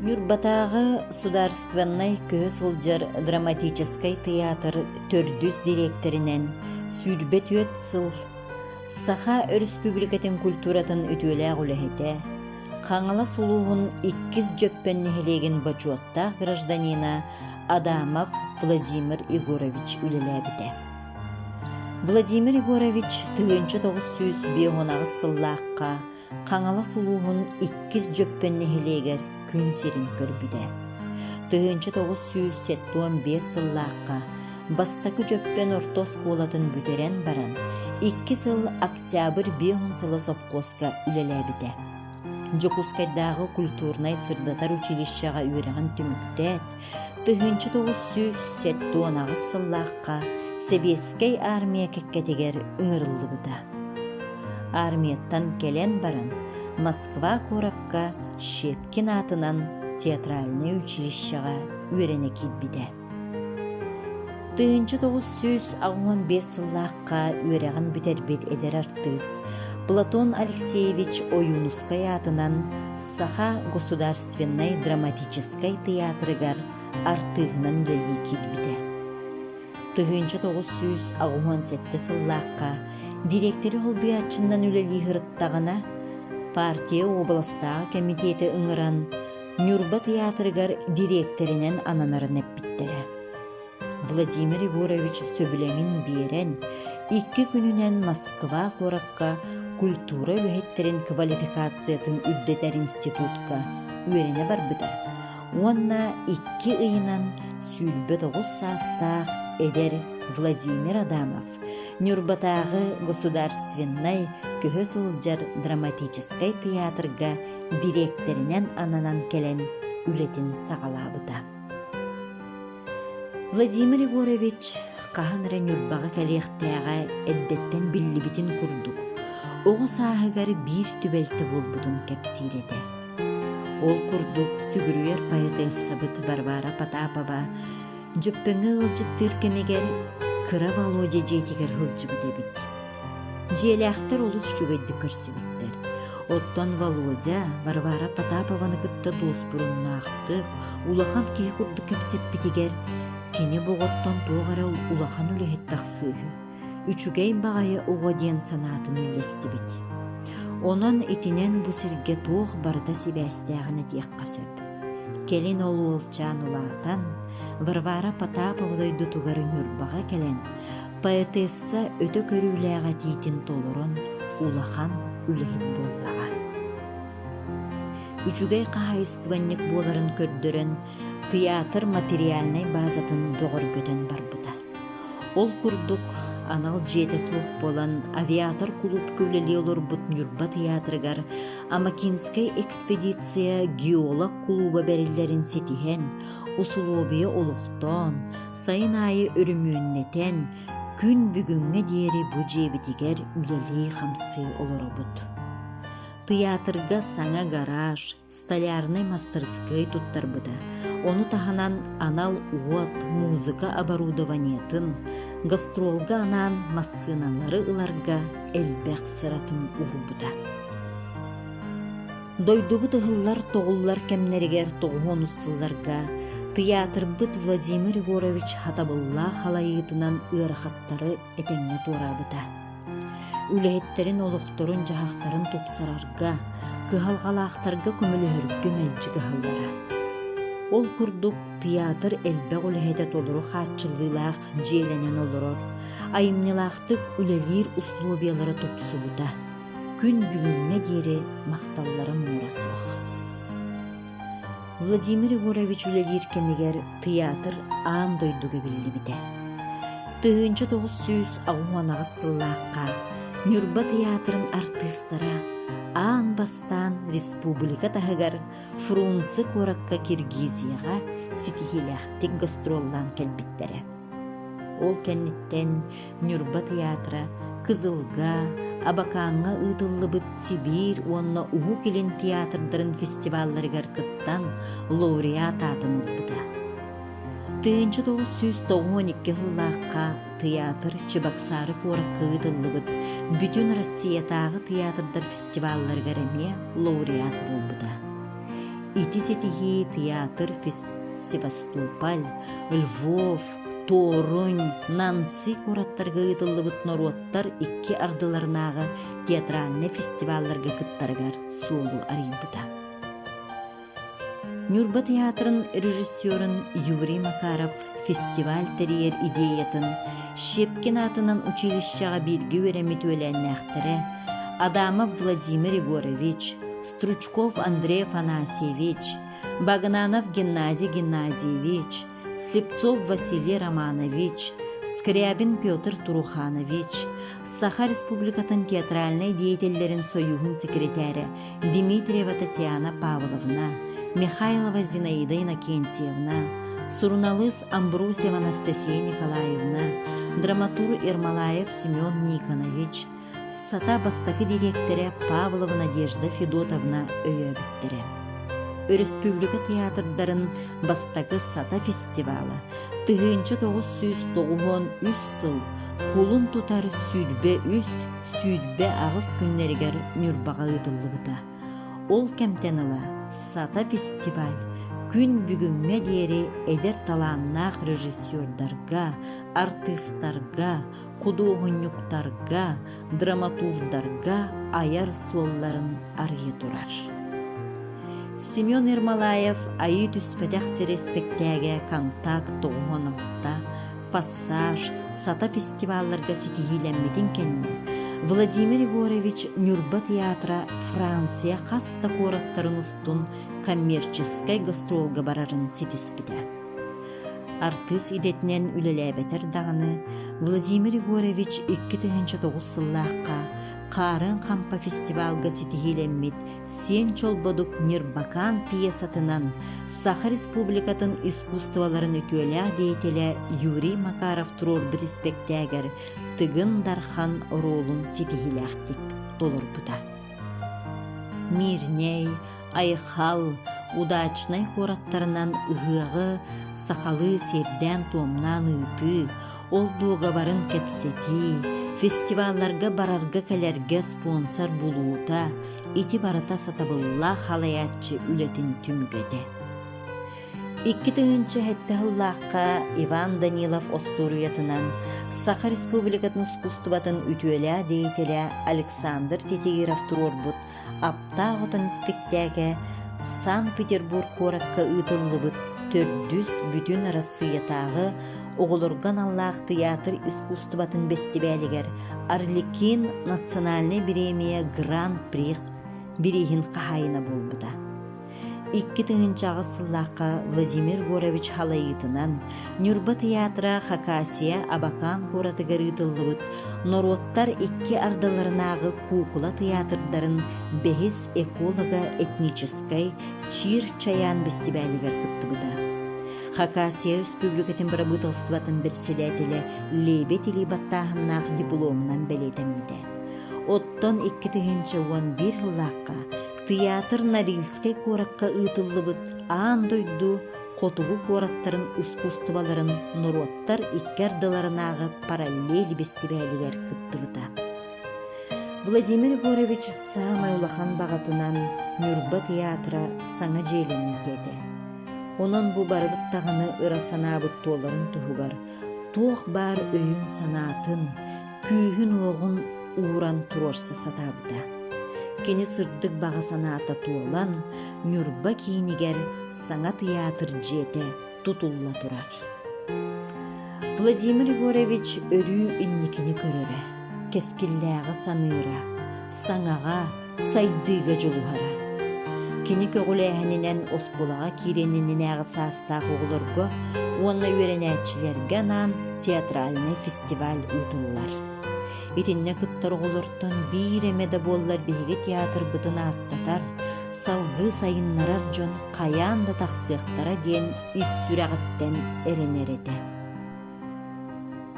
Ньурбатааҕы судаарыстыбаннай көһө сылдьар драматическай тыйаатыр төрдүс дириэктэринэн сүүрбэ түөрт сыл Саха Өрөспүүбүлүкэтин культуратын үтүөлээх үлэһитэ, Хаҥалас улууһун иккис Дьөппөн нэһилиэгин бочуоттаах гражданина Адамов Владимир Егорович үлэлээбитэ. Владимир Егорович тыһыынча тоҕус сүүс биэс уон аҕыс сыллаахха Хаҥалас улууһун иккис Дьөппөн нэһилиэгэр күн сирин көрбүтэ. Тыһыынча тоҕус сүүс сэттуон биэс сыллаахха бастакы Дьөппөн орто оскуолатын бүтэрэн баран, икки сыл октябрь биэс уон сыла сопхуоска үлэлээбитэ. Дьокуускайдааҕы культурнай-сырдатар училищеҕа үөрэҕин түмүктээн, Тыһыынча тоҕус сүүс сэттэ уон аҕыс сыллаахха Сэбиэскэй аармыйа кэккэтигэр ыҥырыллыбыта. Аармыйаттан кэлэн баран Москва куоракка Щепкин аатынан театральнай училищеҕа үөрэнэ киирбитэ. Тыһыынча тоҕус сүүс аҕыон биэс сыллаахха үөрэҕин бүтэрбит эдэр артыыс Платон Алексеевич Ойуунускай аатынан Саха государственнай драматическай тыйаатырыгар артыыһынан үлэлии киирбитэ. Тыһыынча тоҕус сүүс аҕыһыан сэттэ сыллаахха дириэктэри холбуйааччынан үлэлии сырыттаҕына, партия уобаластааҕы кэмитиэти ыҥыран Ньурба тыйаатырыгар дириэктэринэн ананарын эппиттэрэ. Владимир Егорович сөбүлэҥин биэрэн, икки күнүнэн Москва куоракка культура үлэһиттэрин квалификациятын үрдэтэр институтка үөрэнэ барбыта уонна икки ыйынан сүүрбэ тоҕус саастаах эдэр Владимир Адамов Ньурбатааҕы государственнай көһө сылдьар драматическай тыйаатырга дириэктэринэн ананан кэлэн үлэтин саҕалаабыта. Владимир Егорович хаһан эрэ Ньурбаҕа кэлиэхтээҕэ эрдэттэн биллибитин курдук, оҕо сааһыгар биир түбэлтэ буолбутун кэпсиир этэ. Ол курдук сүгүрүйэр поэтессабыт Варвара Потапова Дьөппөҥө ыалдьыттыыр кэмигэр кыра Володя дьиэтигэр сылдьыбыт эбит. Дьиэлээхтэр олус үчүгэйдик көрсүбүттэр. Оттон Володя Варвара Потапованы кытта дуоспуруннаахтык, улахан киһи курдук кэпсэппитигэр кини боҕоттон туох эрэ улахан үлэһит тахсыыһы, үчүгэй баҕайы оҕо диэн санаатын үллэстибит. Онон итинэн бу сиргэ туох барыта сибээстээҕин этиэххэ сөп. Кэлин ол уолчаан улаатан, Варвара Потапова дойдутугар Ньурбаҕа кэлэн, поэтесса өтө көрүүлээх этиитин толорон улахан үлэһит буоллаҕа. Үчүгэй хаһаайыстыбанньык буоларын көрдөрөн, тыйаатыр материальнай базатын бөҕөргөтөн барбыта. Ол курдук, анал дьиэтэ суох буолан авиатор кулуупка үлэлии олорбут Ньурба тыйаатырыгар Амакинскай экспедиция геолог кулууба бэриллэрин ситиһэн, усулуобуйа олохтоон, сайын аайы өрөмүөннэтэн, күн бүгүҥҥэ диэри бу дьиэбитигэр үлэлии-хамсыы олоробут. Тыйаатырга саҥа гараж, столярнай мастырыскыай туттарбыта. Ону таһынан анал уот, музыка оборудованиетын, гастролга анаан массыыналары ыларга элбэх сыратын уурбута. Дойдубут ыһыллар-тоҕуллар кэмнэригэр тоҕуһунус сылларга тыйаатырбыт Владимир Егорович хатабыллаах халайыытынан ыарахаттары этэҥҥэ туораабыта. Үлэһиттэрин олохторун-дьаһахтарын тупсарарга, кыһалҕалаахтарга көмөлөһөргө мэлдьи кыһаллара. Ол курдук тыйаатыр элбэх үлэһитэ толору хааччыллыылаах дьиэлэнэн олорор, айымньылаахтык үлэлиир усулуобуйалара тупсубута. күн бүгүҥҥэ диэри махталлара муора суох. Владимир Егорович үлэлиир кэмигэр тыйаатыр аан дойдуга биллибитэ. Тыһыынча тоҕус сүүс аҕыс сыллаахха Ньурба тыйаатырын артыыстара аан бастаан республика таһыгар Фрунзе куоракка Киргизияҕа ситиһиилээхтик гастроллаан кэлбиттэрэ. Ол кэнниттэн Ньурба тыйаатыра Кызылга, Абакааҥҥа ыытыллыбыт Сибиир уонна Уһук Илин театрдарын фестивалларыгар кыттан, лауреат аатын ылбыта. 1992 сыллаахха тыйаатыр Чебоксары куоракка ыытыллыбыт Бүтүн Россиятааҕы театрдар фестивалларыгар эмиэ лауреат буолбута. Ити ситиһии театр Севастополь, Львов, Туорунь, Нанси куораттарга ыытыллыбыт норуоттар икки ардыларынааҕы театральнай фестивалларга кыттарыгар суолу арыйбыта. Ньурба театрын режиссерун Юрий Макаров фестиваль тэрийэр идеятын Щепкин аатынан училищеҕа бииргэ үөрэммит үөлээннээхтэрэ Адамов Владимир Егорович, Стручков Андрей Афанасьевич, Багнанов Геннадий Геннадьевич, Слепцов Василий Романович, Скрябин Петр Труханович, Саха Республикатын театральнай деятеллэрин сойууһун секретаря Дмитриева Татьяна Павловна, Михайлова Зинаида Иннокентьевна, суруналыыс Амбросьева Анастасия Николаевна, драматург Ермолаев Семен Никонович, Сата бастакы дириэктэрэ Павлова Надежда Федотовна өйөөбүттэрэ. Өрөспүүбүлүкэ театрдарын бастакы Сата фестивала 1993 сыл кулун тутар сүүрбэ үс сүүрбэ аҕыс күннэригэр Ньурбаҕа ыытыллыбыта. Ол кэмтэн ыла Сата фестиваль күн бүгүҥҥэ диэри эдэр талааннаах режиссердарга, артыыстарга, худуоһунньуктарга, драматурдарга айар суолларын арыйа турар. Семен Ермолаев айыы түспэтэх сири испэктээгэ контакт тоҕуһун алта, пассаж, сата фестивалларга ситиһиилэммитин кэннэ Владимир Егорович Ньурба театра Франция хас да куораттарын устун коммерческай гастролга барарын ситиспитэ. Артыыс идэтинэн үлэлээбэтэр даҕаны, Владимир Егорович икки тыһыынча тоҕус сыллаахха Хаарыан Хампа фестивалга ситиһиилэммит Сиэн Чолбодук Нирбакаан пьесатынан Саха Республикатын искусстволарын үтүөлээх деятеля Юрий Макаров туруорбут испэктээгэр Тыгын Дархан оруолун ситиһиилээхтик толорбута. Мирнэй, Айхал удачнай куораттарынан ыһыаҕы сахалыы сиэрдээн-туомнаан ыытыы, ол дуогабарын кэпсэтии, фестивалларга барарга-кэлэргэ спонсор булуута, ити барыта сатабыллаах халайааччы үлэтин түмгэтэ. Икки тыһыынча сэттэ сыллаахха Иван Данилов остуоруйатынан Саха Республикатын ускустубатын үтүөлээх деятеля Александр Титиров туруорбут Аптаах отон испиктээгэ Санкт-Петербург куоракка ыытыллыбыт төрдүс Бүтүн Арассыыйатааҕы оҕолорго аналлаах тыйаатыр искусствотын бэстибээлигэр Арлекин национальнай бириэмийэ гран-при бирииһин хаһаайына буолбута. Икки тыһыынчаҕыс сыллаахха Владимир Егорович халайыытынан Ньурба тыйаатыра Хакасия Абакан куоратыгар ыытыллыбыт норуоттар икки ардыларынааҕы куукула тыйаатырдарын бэһис эколого-этническэй Чир Чаян бэстибээлигэр кыттыбыта. Хакасия Республикатын бырабыыталыстыбатын бэрэссэдээтэлэ Лебедь Или баттааһыннаах дипломунан бэлиэтэммитэ. Оттон икки тыһыынча уон биир сыллаахха Тыйаатыр Норильскай куоракка ыытыллыбыт аан дойду хотугу куораттарын ускуустубаларын норуоттар икки ардыларынааҕы параллель бэстибээлигэр кыттыбыта. Владимир Егорович саамай улахан баҕатынан Ньурба тыйаатыра саҥа дьиэлэниитэ этэ. Онон бу барыбыт даҕаны ыра санаабыт туоларын туһугар туох баар өйүн-санаатын, күүһүн-уоҕун ууран туруорса сатаабыта. Кини сырдык баҕа санаата туолан, Ньурба киинигэр саҥа тыйаатыр дьиэтэ тутулла турар. Владимир Егорович өрүү инникини көрөрө, кэскиллээҕи саныыра, саҥаҕа, сайдыыга дьулуһара. Кини көҕүлээһининэн оскуолаҕа киириэн иннинээҕи саастаах оҕолорго уонна үөрэнээччилэргэ анаан театральный фестиваль ыытыллар. Итиннэ кыттар оҕолортон биир эмэ да буоллар биһиги театрбытын ааттатар, салгыы сайыннарар дьон хайаан да тахсыахтара диэн ис сүрэҕиттэн эрэнэр этэ.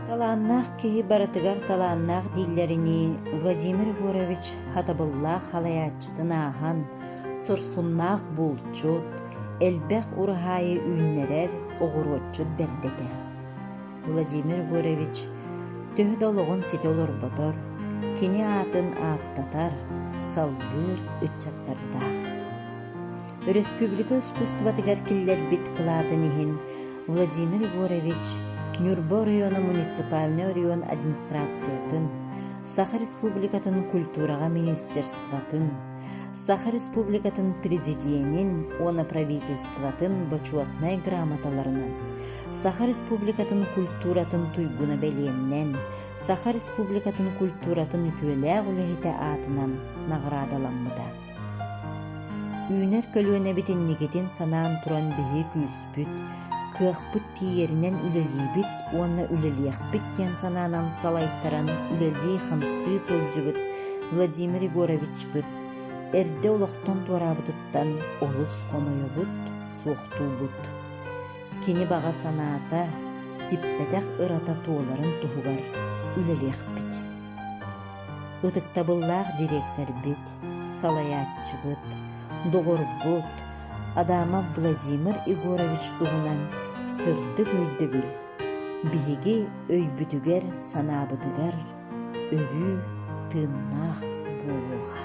Талааннаах киһи барытыгар талааннаах дииллэринии Владимир Егорович хатабыллаах халайааччытын ааһан, сурсуннаах булчут, элбэх ураһаайы үүннэрэр оҕуруотчут бэрдэтэ. Владимир Егорович төһө да олоҕун ситэ олорботор, кини аатын ааттатар, салгыыр ыччаттардаах. Өрөспүүбүлүкэ искусствотыгар киллэрбит кылаатын иһин Владимир Егорович Ньурба оройуона муниципальнай оройуон администрациятын, Саха Республикатын культураҕа министерствотын, Саха Республикатын Президиэнин уонна Правительствотын бочуотунай грамоталарынан, Саха Республикатын культуратын туйгуна бэлиэннэн, Саха Республикатын культуратын үтүөлээх үлэһитэ аатынан наҕараадаламмыта. Үүнэр көлүөнэбит инникитин санаан туран биһи күүспүт, кыахпыт тиийэринэн үлэлиибит уонна үлэлиэхпит диэн санаанан салайтаран үлэлии-хамсыы сылдьыбыт Владимир Егоровичпыт эрдэ олохтон туораабытыттан олус хомойобут, суохтуубут. Кини баҕа санаата, сиппэтэх ырата туоларын туһугар үлэлиэхпит. Ытыктабыллаах дириэктэрбит, салайааччыбыт, доҕорбут Адамов Владимир Егорович туһунан сырдык өйдөбүл биһиги өйбүтүгэр-санаабытыгар өрүү тыыннаах буолуоҕа.